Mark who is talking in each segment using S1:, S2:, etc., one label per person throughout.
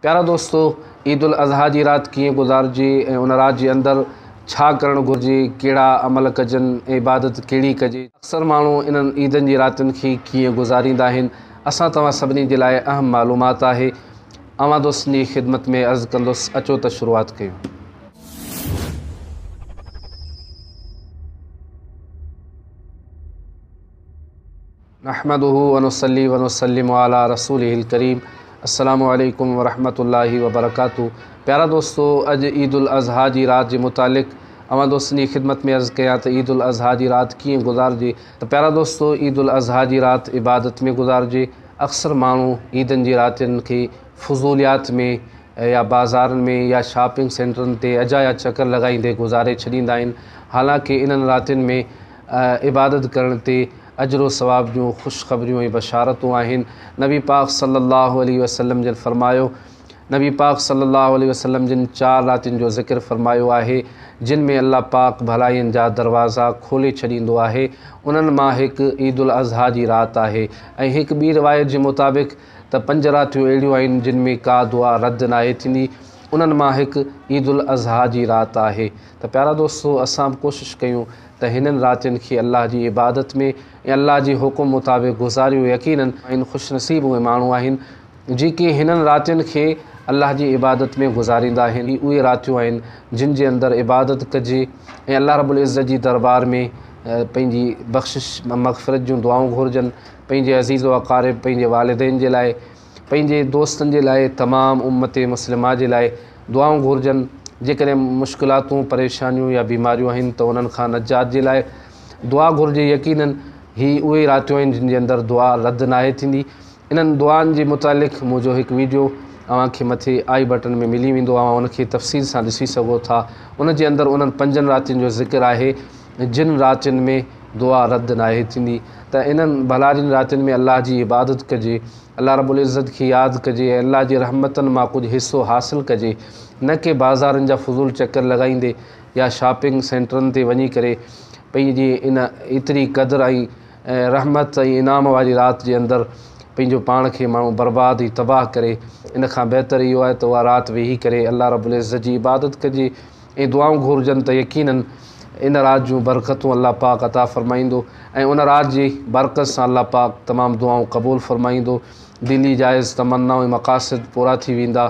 S1: پيارا دوستو! عيد الاضحيٰ جي رات ڪيئن گذارجي ۽ ان رات جي اندر ڇا ڪرڻ گهرجي، ڪهڙا عمل ڪجن ۽ عبادت ڪهڙي ڪجي، اڪثر ماڻهو انهن عيدن جي راتين کي ڪيئن گذاريندا آهن، اسان توهان سڀني جي لاء اهم معلومات آهي. اوهان دوستن جي خدمت ۾ عرض ڪندس، اچو ته شروعات ڪيون. نحمده ونصلي ونسلم علي رسوله الڪريم السلام عليڪم ورحمة الله وبرڪاته پيارا دوستو اڄ عيد الاضحيٰ جي رات جي متعلق اوهان دوستن جي خدمت ۾ عرض ڪيان ته عيد الاضحيٰ جي رات ڪيئن گذارجي ته پيارا دوستو عيد الاضحيٰ جي رات عبادت ۾ گذارجي اڪثر ماڻهو عيدن جي راتين کي فضوليات ۾ يا بازارن ۾ يا شاپنگ سينٽرن تي اجايا چڪر لڳائيندي گذاري ڇڏيندا آهن حالانڪه انهن راتين ۾ عبادت ڪرڻ تي اجر و ثواب جون خوش خبريون ۽ بشارتون آهن. نبي پاڪ صلّي اللّٰه عليه وسلّم جن فرمايو، نبي پاڪ صلّي اللّٰه عليه وسلّم جن چار راتين جو ذڪر فرمايو آهي، جن ۾ الله پاڪ ڀلائين جا دروازا کولي ڇڏيندو آهي، انهن مان هڪ عيد الاضحيٰ جي رات آهي ۽ هڪ ٻي روايت جي مطابق ته پنج راتيون اهڙيون آهن جن ۾ ڪا دعا رد ناهي ٿيندي، انهن مان هڪ عيد الاضحيٰ جي رات آهي. ته پيارا دوستو اسان به ڪوشش ڪيون ته هنن راتين کي الله جي عبادت ۾ ۽ الله جي حڪم مطابق گذاريون يقينن آهن خوش نصيب اهي ماڻهو آهن جيڪي هنن راتين کي الله جي عبادت ۾ گذاريندا آهن هي اهي راتيون آهن جن جي اندر عبادت ڪجي ۽ الله رب العزت جي دربار ۾ پنهنجي بخشش مغفرت جون دعائون گهرجن پنهنجي عزيز و اقارب پنهنجي والدين جي لاء پنهنجي دوستن جي لاء تمام امت مسلمه جي لاء دعائون گهرجن جيڪڏهن مشڪلاتون پريشانيون يا بيماريون آهن ته انهن کان نجات جي لاء دعا گهرجي يقيناً هي اهي راتيون آهن جن جي اندر دعا رد ناهي ٿيندي انهن دعائن جي متعلق منهنجو هڪ ويڊيو اوهان کي مٿي آئي بٽن ۾ ملي ويندو اوهان ان کي تفصيل سان ڏسي سگهو ٿا ان جي اندر انهن پنجن راتين جو ذڪر آهي جن راتين ۾ دعا رد ناهي ٿيندي ته انهن ڀلارين راتين ۾ الله جي عبادت ڪجي، الله رب العزت کي ياد ڪجي ۽ الله جي رحمتن مان ڪجهه حصو حاصل ڪجي نه ڪي بازارن جا فضول چڪر لڳائيندي يا شاپنگ سينٽرن تي وڃي ڪري پنهنجي ان ايتري قدر ۽ رحمت ۽ انعام واري رات جي اندر پنهنجو پاڻ کي ماڻهو برباد ۽ تباهه ڪري ان کان بهتر اهو آهي ته اها رات ويهي ڪري الله رب العزت جي عبادت ڪجي. ۽ دعائون گهرجن ته يقينن ان رات جون برڪتون الله پاڪ عطا فرمائيندو ۽ ان رات جي برڪت سان الله پاڪ تمام دعائون قبول فرمائيندو، دلي جائز تمنائون ۽ مقاصد پورا ٿي ويندا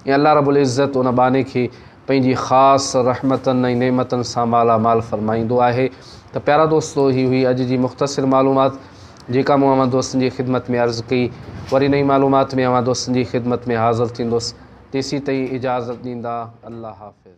S1: ۽ الله رب العزت ان ٻانهي کي پنهنجي خاص رحمتن ۽ نعمتن سان مالا مال فرمائيندو آهي ته پيارا دوستو هي هئي اڄ جي مختصر معلومات. جيڪا مون اوهان دوستن جي خدمت ۾ عرض ڪئي، وري نئين معلومات ۾ اوهان دوستن جي خدمت ۾ حاضر ٿيندس، تيسين تائين اجازت ڏيندا، الله حافظ.